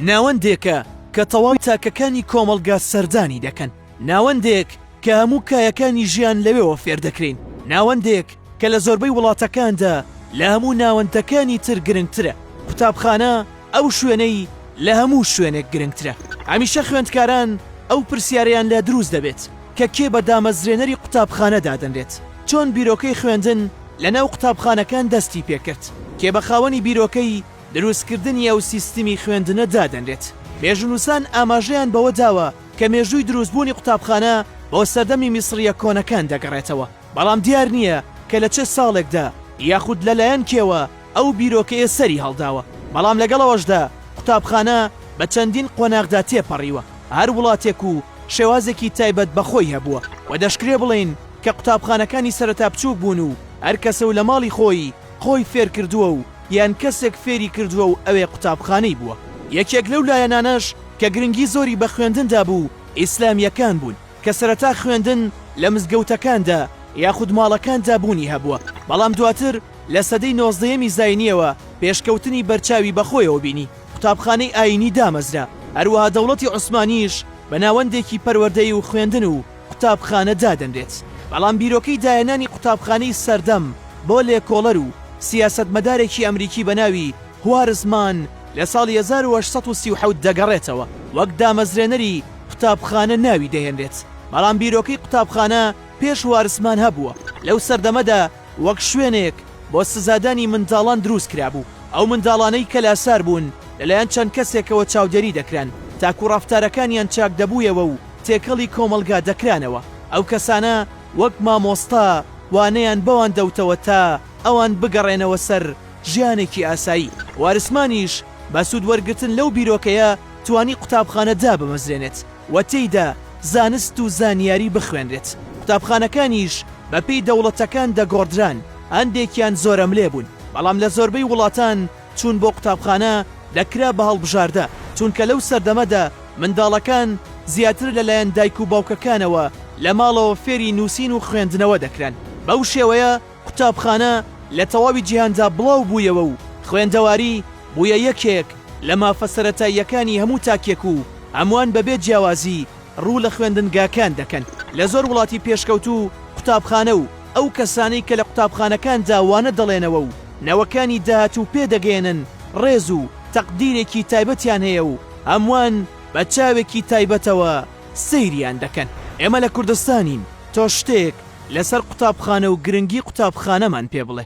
ناوەندێکە کە تەواوی تاکەکانی کۆمەڵگا سەردانی دەکەن، ناوەندێک کە هەموو کایەکانی ژیان لەوێوە فێردەکرێین، ناوەندێک کە لە زۆربەی وڵاتەکاندا لە هەموو ناوەندەکانی تر گرنگترە، قوتابخانە ئەو شوێنەی لە هەموو شوێنێک گرنگترە. هەمیشە خوێندکاران ئەو پرسیارەیان لا دروست دەبێت کە کێ بە دامەزرێنەری قوتابخانە دادەنرێت؟ چۆن بیرۆکەی خوێندن لەناو قوتابخانەکان دەستی پێکرد؟ کێ بە خاوەنی بیرۆکەی؟ دروستکردنی ئەو سیستمی خوێندنە دادەنرێت. مێژوونووسان ئاماژەیان بەوە داوە کە مێژووی دروستبوونی قوتابخانە بۆ سەردەمی میسڕییە کۆنەکان دەگەڕێتەوە، بەڵام دیار نییە کە لە چ ساڵێکدا یاخود لەلایەن کێوە ئەو بیرۆکەیە سەری هەڵداوە، بەڵام لەگەڵ ئەوەشدا قوتابخانە بە چەندین قۆناغدا تێپەڕیوە، هەر وڵاتێک و شێوازێکی تایبەت بە خۆی هەبووە و دەشکرێ بڵێین کە قوتابخانەکانی سەرەتا بچووک بوون و هەر کەسە و لە ماڵی خۆی خۆی فێرکردووە و یان کەسێک فێری کردووە و ئەوێ قوتابخانەی بووە. یەکێک لەو لایەنانەش کە گرنگی زۆری بە خوێندندا بوو، ئیسلامییەکان بوون، کە سەرەتا خوێندن لە مزگەوتەکاندا یاخود ماڵەکاندا بوونی هەبووە، بەڵام دواتر لە سەدەی نۆزدەیەمی زاینییەوە پێشکەوتنی بەرچاوی بە خۆیەوە بینی، قوتابخانەی ئایینی دامەزرا، هەروەها دەوڵەتی عوسمانییش بە ناوەندێکی پەروەردەیی و خوێندن و. قوتابخانە دادەنرێت، بەڵام بیرۆکەی داێنانی قوتابخانەی سەردەم بۆ لێکۆڵەر و سیاسەتمەدارێکی ئەمریکی بە ناوی هوارز مان لە ساڵی هەزار و هەشت سەد و سی و حەوت دەگەڕێتەوە، وەک دامەزرێنەری قوتابخانە ناوی دەهێنرێت، بەڵام بیرۆکەی قوتابخانە پێش هوارز مان هەبووە، لەو سەردەمەدا وەک شوێنێک بۆ سزادانی منداڵان دروست کرابوو، ئەو منداڵانەی کە لاسار بوون لەلایەن چەند کەسێکەوە چاودێری دەکران تاکوو ڕەفتارەکانیان چاک دەبوویەوە و تێکەڵی کۆمەڵگا دەکرانەوە، ئەو کەسانە وەک مامۆستا وانەیان بەوان دەوتەوە تا ئەوان بگەڕێنەوە سەر ژیانێکی ئاسایی، وارسمانیش بە سوود وەرگرتن لەو بیرۆکەیە توانی قوتابخانە دابمەزرێنێت و تێیدا زانست و زانیاری بخوێنرێت، قوتابخانەکانیش. بەپێی دەوڵەتەکان دەگۆڕدران، هەندێکیان زۆرەملێ بوون، بەڵام لە زۆربەی وڵاتان چوون بۆ قوتابخانە دەکرا بە هەڵبژاردە، چونکە لەو سەردەمەدا منداڵەکان زیاتر لەلایەن دایک و باوکەکانەوە لە ماڵەوە فێری نووسین و خوێندنەوە دەکران، بەو شێوەیە قوتابخانە لە تەواوی جیهاندا بڵاو بوویەوە و خوێندەواری بوویە یەکێک لە مافە سەرەتاییەکانی هەموو تاکێک و هەمووان بەبێ جیاوازی ڕوو لە خوێندنگاکان دەکەن، لە زۆر وڵاتی پێشکەوتوو و قوتابخانە و ئەو کەسانەی کە لە قوتابخانەکاندا وانە دەڵێنەوە و نەوەکانی داهاتوو پێ دەگەیەنن ڕێز و تەقدیرێکی تایبەتیان هەیە و هەمووان بە چاوێکی تایبەتەوە سەیریان دەکەن. ئێمە لە کوردستانین، تۆ شتێک لە سەر قوتابخانە و گرنگی قوتابخانەمان پێ بڵێ.